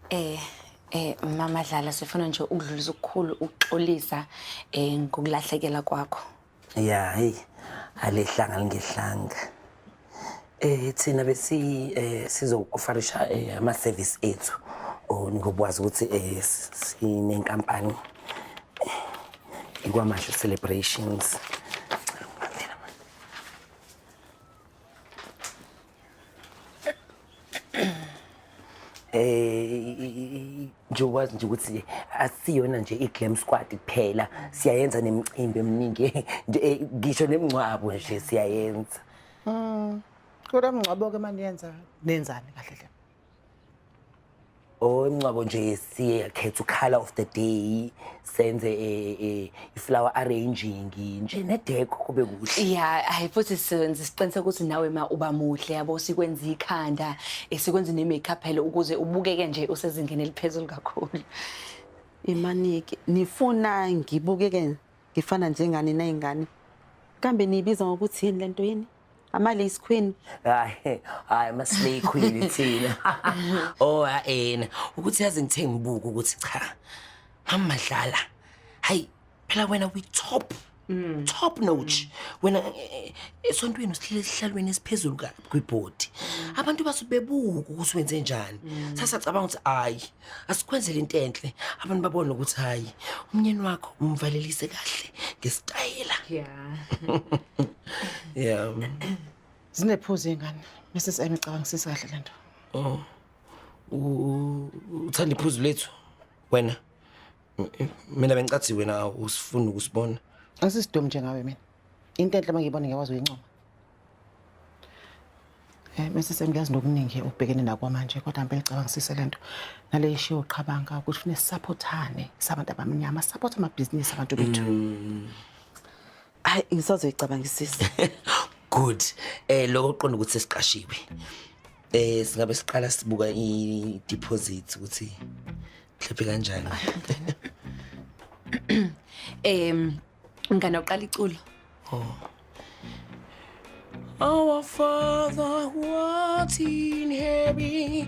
Eh eh mama Dlala sifuna nje ukudlulisa ukukhulu ukuxolisa eh ngokulahlekela kwakho. Ya hey alehlanga lingehlanga. Eh thina besi eh sizokufarisha eh, ama service ethu. Oh ngokwazi ukuthi eh s- sinenkampani eh, ikwamasho celebrations. eh nje wazi nje ukuthi asiyona nje i-glam squad kuphela siyayenza nemicimbi eminingi eh, ngisho nemngcwabo nje siyayenza mm kodwa mngcwabo ke maniyenza nenzani kahle hle Oh ingcwabo nje siye khetha ukhala of the day senze eh, eh, iflower arranging nje nedeko kube kuhle. ya hayi futhi senze siqiniseka ukuthi nawe ma uba muhle yabo sikwenza ikhanda eh, sikwenza ne-makeup phela ukuze ubukeke nje usezingeni eliphezulu kakhulu imanike nifuna ngibukeke ngifana njengani nayingane kambe niyibiza ngokuthi yini lento yini ama lace queen hayi hayi ama slay queen thina oh ayena ukuthi yazi ngithe ngibuka ukuthi cha amadlala hayi phela wena we top Mm. top notch wena eh, eh, esontweni usihlele esihlalweni esiphezulu ka- kwibhodi abantu basuke bebuka ukuthi wenze njani sasacabanga ukuthi hayi asikwenzele into enhle abantu babone ukuthi hayi umnyeni wakho umvalelise kahle ngesitayela yeah yeah zinephuzu ingane mrs m icabangisisa kahle lento oh uthanda iphuzu lethu wena mina bengicathi wena usifuni ukusibona asisidomi njengawe mina into enhle mangiyibona ngiyakwazi uyincoma Eh Mrs Mngiyazi nokuningi obhekene nakwa manje kodwa ngempela cabangisise lento nale ishiwo qhabanga ukuthi fune supportane sabantu abamnyama support ama business abantu bethu. Mm. Hayi ngisazoyi cabangisisa. Good. Eh lokho uqonda ukuthi sesiqashiwe. Eh singabe siqala sibuka i deposit ukuthi mhlawumbe kanjani. Em Ngane uqala iculo. Oh. Our Father who art in heaven.